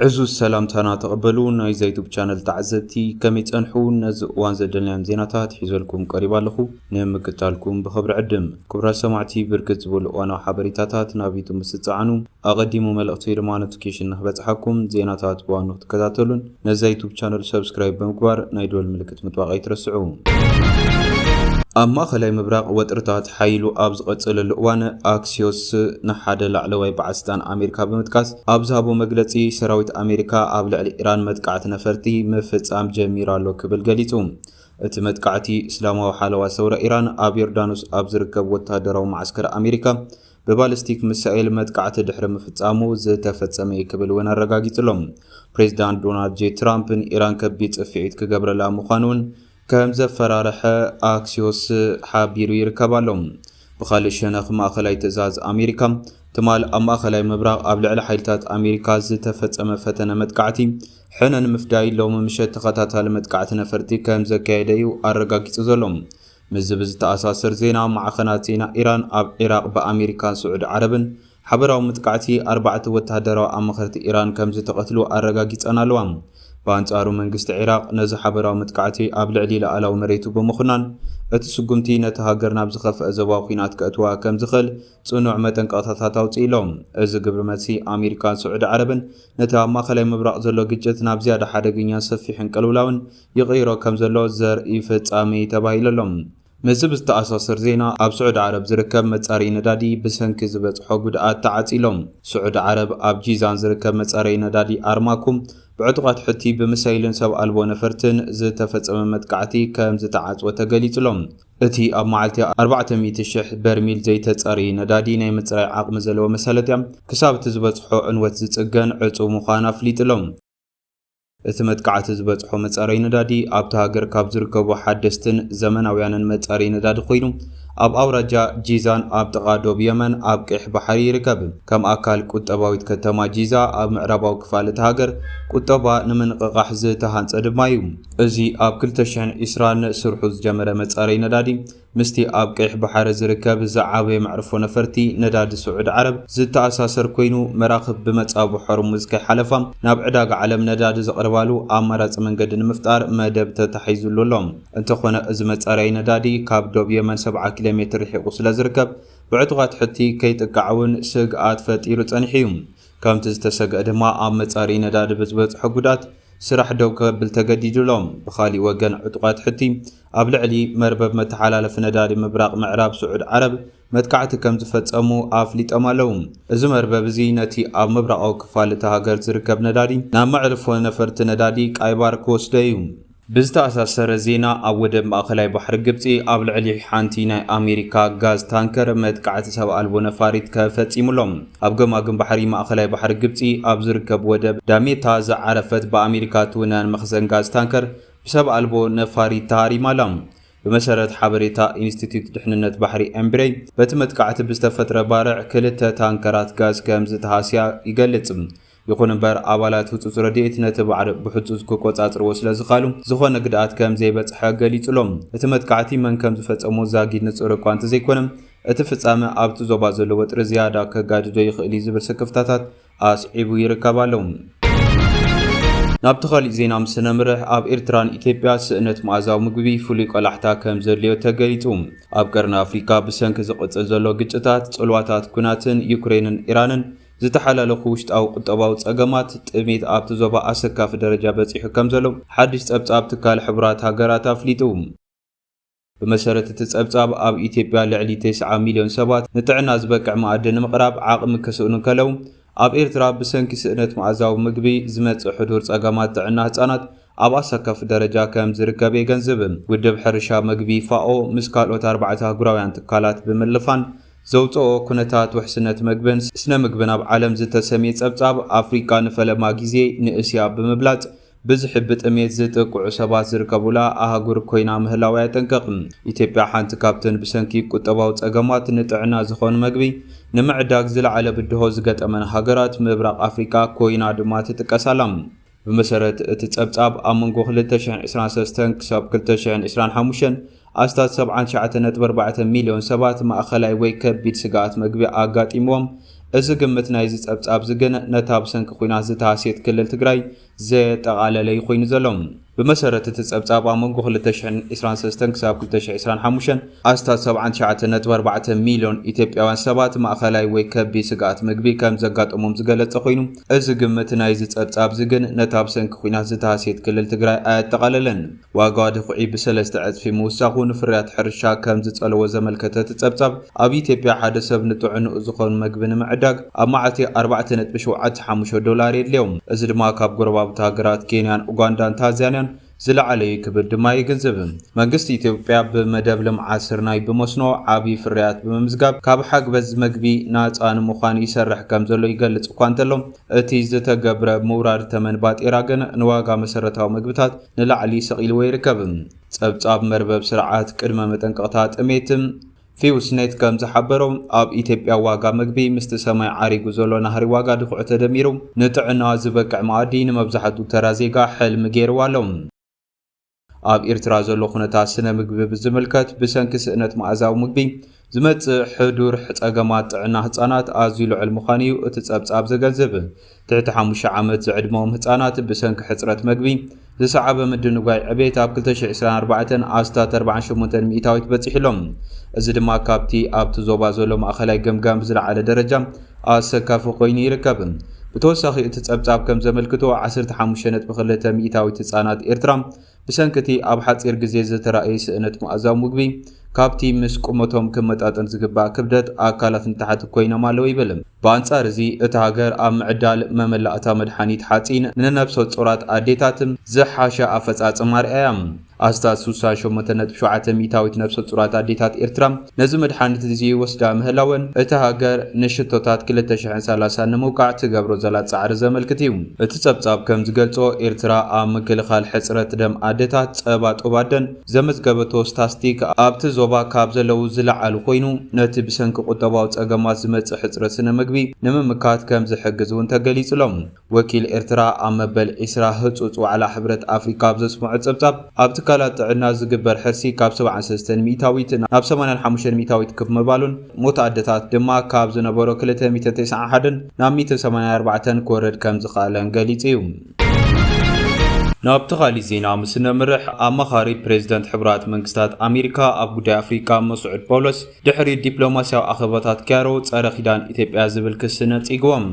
ዕዙዝ ሰላምታና ተቐበሉ ናይዛ ዩቱብ ቻነል ተዓዘብቲ ከመይ ጸንሑ ነዚ እዋን ዘደልናዮም ዜናታት ሒዘልኩም ቀሪባ ኣለኹ ንምክታልኩም ብኽብሪ ዕድም ክቡራት ሰማዕቲ ብርክት ዝበሉ እዋናዊ ሓበሬታታት ናብ ዩቱብ ምስ ትጸዓኑ ኣቐዲሙ መልእኽቲ ድማ ኖቲፊኬሽን ንክበጽሓኩም ዜናታት ብዋኑ ክትከታተሉን ነዛ ዩቱብ ቻነል ሰብስክራይብ ብምግባር ናይ ደወል ምልክት ምጥዋቕ ኣይትረስዑ። ኣብ ማእኸላይ ምብራቕ ወጥርታት ሓይሉ ኣብ ዝቐፀለሉ እዋን ኣክሲዮስ ንሓደ ላዕለዋይ በዓል ስልጣን ኣሜሪካ ብምጥቃስ ኣብ ዝሃቦ መግለፂ ሰራዊት ኣሜሪካ ኣብ ልዕሊ ኢራን መጥቃዕቲ ነፈርቲ ምፍፃም ጀሚሩ ኣሎ ክብል ገሊፁ። እቲ መጥቃዕቲ እስላማዊ ሓለዋ ሰውራ ኢራን ኣብ ዮርዳኖስ ኣብ ዝርከብ ወተሃደራዊ መዓስከር ኣሜሪካ ብባሊስቲክ ሚሳኤል መጥቃዕቲ ድሕሪ ምፍጻሙ ዝተፈጸመ'ዩ ክብል እውን ኣረጋጊጹ'ሎ። ፕሬዚዳንት ዶናልድ ጄ ትራምፕ ንኢራን ከቢድ ጽፍዒት ክገብረላ ምዃኑ'ውን ከምዘፈራርሐ ኣክሲዮስ ሓቢሩ ይርከብ ኣሎ። ብኻልእ ሸነኽ ማእኸላይ ትእዛዝ ኣሜሪካ ትማል ኣብ ማእኸላይ ምብራቕ ኣብ ልዕሊ ሓይልታት ኣሜሪካ ዝተፈጸመ ፈተነ መጥቃዕቲ ሕነ ንምፍዳይ ሎሚ ምሸት ተኸታታሊ መጥቃዕቲ ነፈርቲ ከምዘካየደ'ዩ ኣረጋጊጹ ዘሎ። ምስዚ ብዝተኣሳሰር ዜና ማዕኸናት ዜና ኢራን ኣብ ዒራቕ ብኣሜሪካን ስዑዲ ዓረብን ሓበራዊ መጥቃዕቲ ኣርባዕተ ወተሃደራዊ ኣማኸርቲ ኢራን ከምዝተቐትሉ ኣረጋጊፀን ኣለዋ። ብኣንፃሩ መንግስቲ ዒራቕ ነዚ ሓበራዊ መጥቃዕቲ ኣብ ልዕሊ ልኣላዊ መሬቱ ብምኹናን እቲ ስጉምቲ ነታ ሃገር ናብ ዝኸፍኣ ዞባዊ ኲናት ከእትዋ ከምዝኽእል ፅኑዕ መጠንቀቕታታት ኣውፂኡ ኣሎ። እዚ ግብሪ መልሲ ኣሜሪካን ስዑዲ ዓረብን ነቲ ኣብ ማእኸላይ ምብራቕ ዘሎ ግጭት ናብ ዝያዳ ሓደገኛን ሰፊሕን ቅልውላውን ይቕይሮ ከምዘሎ ዘርኢ ፍጻሜ'ዩ ተባሂሉ'ሎ። ምስዚ ብዝተኣሳሰር ዜና ኣብ ስዑዲ ዓረብ ዝርከብ መጻረዪ ነዳዲ ብሰንኪ ዝበጽሖ ጉድኣት ተዓጽዩ'ሎ። ስዑዲ ዓረብ ኣብ ጂዛን ዝርከብ መጻረዪ ነዳዲ ኣርማኮ ብዕጡቓት ሑቲ ብሚሳይልን ሰብ ኣልቦ ነፈርትን ዝተፈጸመ መጥቃዕቲ ከምዝተዓጽወ ተገሊጹ'ሎ። እቲ ኣብ መዓልቲ ኣርባዕተ ሚእቲ ሽሕ በርሚል ዘይተጻረዪ ነዳዲ ናይ ምጽራይ ዓቕሚ ዘለዎ መሳለጥያ ክሳብ እቲ ዝበጽሖ ዕንወት ዝጽገን ዕጹው ምዃኑ ኣፍሊጡ'ሎ። እቲ መጥቃዕቲ ዝበጽሖ መጻረዪ ነዳዲ ኣብታ ሃገር ካብ ዝርከቡ ሓደስትን ዘመናውያንን መጻረዪ ነዳዲ ኮይኑ ኣብ ኣውራጃ ጂዛን ኣብ ጥቓ ዶብ የመን ኣብ ቀይሕ ባሕሪ ይርከብ። ከም ኣካል ቁጠባዊት ከተማ ጂዛ ኣብ ምዕራባዊ ክፋል እታ ሃገር ቁጠባ ንምንቕቓሕ ዝተሃንጸ ድማ እዩ። እዚ ኣብ ክልተ ሽሕን ዕስራን ስርሑ ዝጀመረ መጻረዪ ነዳዲ፣ ምስቲ ኣብ ቀይሕ ባሕሪ ዝርከብ ዝዓበየ መዕርፎ ነፈርቲ ነዳዲ ስዑዲ ዓረብ ዝተኣሳሰር ኮይኑ፣ መራኽብ ብመጻብቦ ሖርሙዝ ከይሓለፋ ናብ ዕዳጋ ዓለም ነዳዲ ዘቕርባሉ ኣማራጺ መንገዲ ንምፍጣር መደብ ተታሒዙሉ ኣሎ። እንተኾነ እዚ መጻረዪ ነዳዲ ካብ ዶብ የመን ሰብዓ ኪሎሜትር ርሒቑ ስለዝርከብ ብዕጡቓት ሑቲ ከይጥቃዕ'ውን ስግኣት ፈጢሩ ጸኒሑ'ዩ። ከምቲ ዝተሰግአ ድማ ኣብ መጻርዪ ነዳዲ ብዝበጽሖ ጉድኣት ስራሕ ደው ከብል ተገዲዱ'ሎ። ብኻሊእ ወገን ዕጡቓት ሑቲ ኣብ ልዕሊ መርበብ መተሓላለፊ ነዳዲ ምብራቕ ምዕራብ ስዑድ ዓረብ መጥቃዕቲ ከም ዝፈጸሙ ኣፍሊጦም ኣለዉ። እዚ መርበብ እዚ ነቲ ኣብ ምብራቓዊ ክፋል እታ ሃገር ዝርከብ ነዳዲ ናብ መዕርፎ ነፈርቲ ነዳዲ ቃይባር ክወስዶ እዩ። ብዝተኣሳሰረ ዜና ኣብ ወደብ ማእከላይ ባሕሪ ግብጺ ኣብ ልዕሊ ሓንቲ ናይ ኣሜሪካ ጋዝ ታንከር መጥቃዕቲ ሰብ ኣልቦ ነፋሪት ከፈጺሙ ኣሎ። ኣብ ገማግም ባሕሪ ማእከላይ ባሕሪ ግብጺ ኣብ ዝርከብ ወደብ ዳሜታ ዝዓረፈት ብኣሜሪካ እትውነን መኽዘን ጋዝ ታንከር ብሰብ ኣልቦ ነፋሪት ተሃሪማ ኣላ። ብመሰረት ሓበሬታ ኢንስቲትዩት ድሕንነት ባሕሪ ኤምብሬይ፣ በቲ መጥቃዕቲ ብዝተፈጥረ ባርዕ ክልተ ታንከራት ጋዝ ከምዝተሃስያ ይገልጽ። ይኹን'ምበር ኣባላት ህጹጽ ረድኤት ነቲ ባዕሪ ብሕጹጽ ክቆጻጽርዎ ስለዝኸኣሉ ዝኾነ ግድኣት ከምዘይበጽሐ ገሊጹ'ሎ። እቲ መጥቃዕቲ መን ከምዝፈጸሞ ዛጊድ ንጹር እኳ እንተዘይኮነ፣ እቲ ፍጻመ ኣብቲ ዞባ ዘሎ ወጥሪ ዝያዳ ከጋድዶ ይኽእል'ዩ ዝብል ስክፍታታት ኣስዒቡ ይርከብ ኣሎ። ናብቲ ካሊእ ዜና ምስ ነምርሕ ኣብ ኤርትራን ኢትዮጵያ ስእነት መኣዛዊ ምግቢ ፍሉይ ቆላሕታ ከም ዘድልዮ ተገሊጹ። ኣብ ቀርኒ ኣፍሪካ ብሰንኪ ዝቕጽል ዘሎ ግጭታት፣ ጽልዋታት ኲናትን ዩክሬንን ኢራንን ዝተሓላለኹ ውሽጣዊ ቁጠባዊ ጸገማት፣ ጥሜት ኣብቲ ዞባ ኣሰካፊ ደረጃ በጺሑ ከም ዘሎ ሓድሽ ጸብጻብ ትካል ሕቡራት ሃገራት ኣፍሊጡ። ብመሰረት እቲ ጸብጻብ፣ ኣብ ኢትዮጵያ ልዕሊ ተስዓ ሚልዮን ሰባት ንጥዕና ዝበቅዕ መኣዲ ንምቕራብ ዓቕሚ ክስእኑ እንከለው፣ ኣብ ኤርትራ ብሰንኪ ስእነት መኣዛዊ ምግቢ ዝመጽእ ሕዱር ጸገማት ጥዕና ህጻናት ኣብ ኣሰካፊ ደረጃ ከም ዝርከብ የገንዝብ። ውድብ ሕርሻ መግቢ፣ ፋኦ፣ ምስ ካልኦት ኣርባዕተ ኣህጉራውያን ትካላት ብምልፋን ዘውጸኦ ኩነታት ውሕስነት መግብን ስነ ምግብን ኣብ ዓለም ዝተሰምየ ጸብጻብ፣ ኣፍሪቃ ንፈለማ ግዜ ንእስያ ብምብላጽ ብዝሒ ብጥሜት ዝጥቅዑ ሰባት ዝርከቡላ ኣህጉር ኮይና ምህላዋ የጠንቅቕ። ኢትዮጵያ ሓንቲ ካብተን ብሰንኪ ቁጠባዊ ጸገማት ንጥዕና ዝኸውን መግቢ ንምዕዳግ ዝለዓለ ብድሆ ዝገጠመን ሃገራት ምብራቕ ኣፍሪቃ ኮይና ድማ ትጥቀስ ኣላ። ብመሰረት እቲ ጸብጻብ፣ ኣብ መንጎ ክልተ ሽሕን ዕስራን ሰለስተን ክሳብ ክልተ ሽሕን ዕስራን ሓሙሽተን ኣስታት ሰብዓን ትሽዓተ ነጥቢ ኣርባዕተ ሚልዮን ሰባት ማእኸላይ ወይ ከቢድ ስግኣት መግቢ ኣጋጢምዎም። እዚ ግምት ናይዚ ፀብፃብዚ ግን ነታ ብሰንኪ ኹናት ዝተሃስየት ክልል ትግራይ ዘየጠቓለለ ዩ ኾይኑ ዘሎ። ብመሰረት እቲ ፀብፃብ ኣብ መንጎ ክልተ ሽሕን ዕስራን ሰለስተን ክሳብ ክልተ ሽሕ ዕስራን ሓሙሽተን ኣስታት ሰብዓን ትሽዓተ ነጥቢ ኣርባዕተ ሚልዮን ኢትዮጵያውያን ሰባት ማእኸላይ ወይ ከቢድ ስግኣት መግቢ ከምዘጋጠሞም ዝገለፀ ኾይኑ እዚ ግምት ናይዚ ፀብፃብዚ ግን ነታ ብሰንኪ ኹናት ዝተሃስየት ክልል ትግራይ ኣየጠቓለለን። ዋጋ ድኹዒ ብሰለስተ ዕጽፊ ምውሳኹ ንፍርያት ሕርሻ ከም ዝጸለዎ ዘመልከተ እቲ ጸብጻብ፣ ኣብ ኢትዮጵያ ሓደ ሰብ ንጥዕንኡ ዝኸውን መግቢ ንምዕዳግ ኣብ መዓልቲ ኣርባዕተ ነጥቢ ሸውዓተ ሓሙሽተ ዶላር የድልዮ። እዚ ድማ ካብ ጎረባብቲ ሃገራት ኬንያን ኡጋንዳን ታንዛንያን ዝለዓለ'ዩ ክብል ድማ የገንዝብ። መንግስቲ ኢትዮጵያ ብመደብ ልምዓት ስርናይ ብመስኖ ዓቢ ፍርያት ብምምዝጋብ ካብ ሓግበዝ መግቢ ናጻ ንምዃን ይሰርሕ ከም ዘሎ ይገልጽ እኳ እንተሎ፣ እቲ ዝተገብረ ምውራድ ተመን ባጤራ ግን ንዋጋ መሰረታዊ መግብታት ንላዕሊ ሰቒልዎ ይርከብ። ጸብጻብ መርበብ ስርዓት ቅድመ መጠንቀቕታ ጥሜት፣ ፊውስኔት፣ ከም ዝሓበሮ፣ ኣብ ኢትዮጵያ ዋጋ መግቢ ምስቲ ሰማይ ዓሪጉ ዘሎ ናህሪ ዋጋ ድዅዒ ተደሚሩ፣ ንጥዕና ዝበቅዕ መኣዲ ንመብዛሕትኡ ተራ ዜጋ ሕልሚ ገይርዎ ኣሎ። ኣብ ኤርትራ ዘሎ ኵነታት ስነ ምግቢ ብዝምልከት፣ ብሰንኪ ስእነት መኣዛዊ ምግቢ፣ ዝመጽእ ሕዱር ጸገማት ጥዕና ህጻናት ኣዝዩ ልዑል ምዃኑ'ዩ እቲ ጸብጻብ ዘገንዝብ። ትሕቲ ሓሙሽተ ዓመት ዝዕድመኦም ህጻናት ብሰንኪ ሕጽረት መግቢ ዝሰዓበ ምድንጓይ ዕቤት ኣብ ክልተ ሽሕ ዕስራን ኣርባዕተን ኣስታት ኣርብዓን ሸሞንተን ሚእታዊት በጺሑ ኣሎ። እዚ ድማ ካብቲ ኣብቲ ዞባ ዘሎ ማእኸላይ ገምጋም ብዝለዓለ ደረጃ ኣሰካፊ ኮይኑ ይርከብ። ብተወሳኺ እቲ ጸብጻብ ከም ዘመልክቶ ዓሰርተ ሓሙሽተ ነጥቢ ክልተ ሚእታዊት ህጻናት ኤርትራ ብሰንኪ እቲ ኣብ ሓጺር ግዜ ዝተራእየ ስእነት መኣዛዊ ምግቢ፣ ካብቲ ምስ ቁመቶም ክመጣጠን ዝግባእ ክብደት ኣካላት ንታሕቲ ኰይኖም ኣለዉ ይብል። ብኣንጻር እዚ፣ እታ ሃገር ኣብ ምዕዳል መመላእታ መድሓኒት ሓጺን ንነብሰጾራት ኣዴታት ዝሓሸ ኣፈጻጽማ ኣርኣያ። ኣስታት ስሳ ሸሞንተ ነጥቢ ሸውዓተ ሚእታዊት ነብሰጾራት ኣዴታት ኤርትራ ነዚ መድሓኒት እዚ ይወስዳ ምህላወን እታ ሃገር ንሽቶታት ክልተ ሽሕን ሰላሳን ንምውቃዕ ትገብሮ ዘላ ጻዕሪ ዘመልክት እዩ። እቲ ጸብጻብ ከም ዝገልጾ፣ ኤርትራ ኣብ ምክልኻል ሕጽረት ደም ኣደታት፣ ጸባ ጡብ ኣደን፣ ዘመዝገበቶ ስታስቲክ ኣብቲ ዞባ ካብ ዘለዉ ዝለዓሉ ኮይኑ፣ ነቲ ብሰንኪ ቁጠባዊ ጸገማት ዝመጽእ ሕጽረት ስነ ምግቢ ንምምካት ከም ዝሕግዝ እውን ተገሊጹ ኣሎ። ወኪል ኤርትራ ኣብ መበል ዕስራ ህጹጽ ዋዕላ ሕብረት ኣፍሪቃ ኣብ ዘስመዖ ጸብጻብ፣ ኣብ ትካላት ጥዕና ዝግበር ሕርሲ ካብ ሰብዓን ሰለስተን ሚእታዊት ናብ ሰማንያን ሓሙሽተን ሚእታዊት ክፍ ምባሉን ሞት ኣደታት ድማ ካብ ዝነበሮ ክልተ ሚእትን ተስዓን ሓደን ናብ ሚእትን ሰማንያን ኣርባዕተን ክወርድ ከም ዝኸኣለን ገሊጹ እዩ። ናብቲ ካሊእ ዜና ምስ ነምርሕ፣ ኣማኻሪ ፕሬዝደንት ሕቡራት መንግስታት ኣሜሪካ ኣብ ጉዳይ ኣፍሪቃ መስዑድ ጳውሎስ ድሕሪ ዲፕሎማስያዊ ኣኼባታት ክያሮ ጸረ ኪዳን ኢትዮጵያ ዝብል ክሲ ነጺግዎም።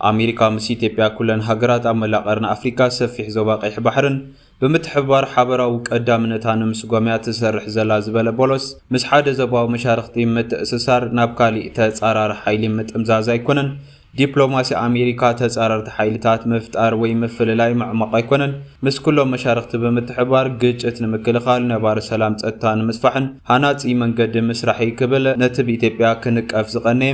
ኣሜሪካ ምስ ኢትዮጵያ ኩለን ሃገራት ኣብ መላእ ቀርኒ ኣፍሪካ ሰፊሕ ዞባ ቀይሕ ባሕርን ብምትሕብባር ሓበራዊ ቀዳምነታ ንምስጓም እያ ትሰርሕ ዘላ ዝበለ ቦሎስ ምስ ሓደ ዞባዊ መሻርኽቲ ምትእስሳር ናብ ካሊእ ተፃራሪ ሓይሊ ምጥምዛዝ ኣይኮነን ዲፕሎማሲ ኣሜሪካ ተፃረርቲ ሓይልታት ምፍጣር ወይ ምፍልላይ ምዕሟቕ ኣይኮነን ምስ ኩሎም መሻርኽቲ ብምትሕብባር ግጭት ንምክልኻል ነባሪ ሰላም ፀጥታ ንምስፋሕን ሃናፂ መንገዲ ምስራሕ'ዩ ክብል ነቲ ብኢትዮጵያ ክንቀፍ ዝቐነየ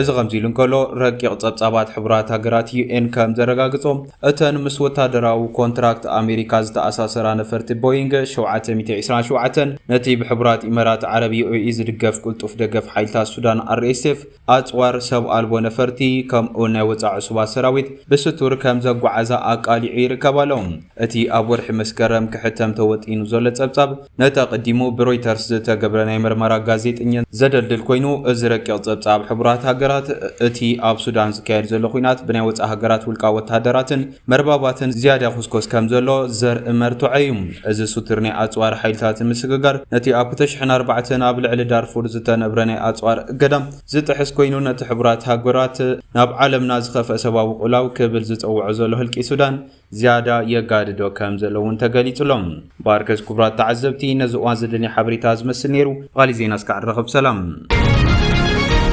እዚ ከምዚ ኢሉ እንከሎ፣ ረቂቕ ጸብጻባት ሕቡራት ሃገራት፣ UN፣ ከም ዘረጋግጾ፣ እተን ምስ ወተሃደራዊ ኮንትራክት ኣሜሪካ ዝተኣሳሰራ ነፈርቲ ቦይንግ ሸውዓተ ሚእቲ ዕስራን ሸውዓተን፣ ነቲ ብሕቡራት ኢመራት ዓረብ፣ UAE፣ ዝድገፍ ቅልጡፍ ደገፍ ሓይልታት ሱዳን፣ RSF፣ ኣጽዋር፣ ሰብ ኣልቦ ነፈርቲ፣ ከምኡ'ውን ናይ ወጻኢ ዕሱባት ሰራዊት ብስቱር ከም ዘጓዓዛ ኣቃሊዑ ይርከብ ኣሎ። እቲ ኣብ ወርሒ መስከረም ክሕተም ተወጢኑ ዘሎ ጸብጻብ፣ ነቲ ኣቐዲሙ ብሮይተርስ ዝተገብረ ናይ መርመራ ጋዜጠኝነት ዘደልድል ኮይኑ፣ እዚ ረቂቕ ጸብጻብ ሕቡራት ሃገራት፣ እቲ ኣብ ሱዳን ዝካየድ ዘሎ ኲናት ብናይ ወጻኢ ሃገራት ውልቃዊ ወተሃደራትን መርባባትን ዝያዳ ይኹስኮስ ከም ዘሎ ዘርኢ መርትዖ እዩ። እዚ ሱቱር ናይ ኣጽዋር ሓይልታት ምስግጋር፣ ነቲ ኣብ ክልተ ሽሕን ኣርባዕተን ኣብ ልዕሊ ዳርፉር ዝተነብረ ናይ ኣጽዋር እገዳ ዝጥሕስ ኮይኑ፣ ነቲ ሕቡራት ሃገራት ናብ ዓለምና ዝኸፍኣ ሰብኣዊ ቅልውላው ክብል ዝጸውዖ ዘሎ ህልቂት ሱዳን ዝያዳ የጋድዶ ከም ዘሎ እውን ተገሊጹ ኣሎ። ባርከስ ኩቡራት ተዓዘብቲ ነዚ እዋን ዘደንይ ሓበሬታ ዝመስል ነይሩ ብኻሊእ ዜና እስካዕ ንራኸብ ሰላም።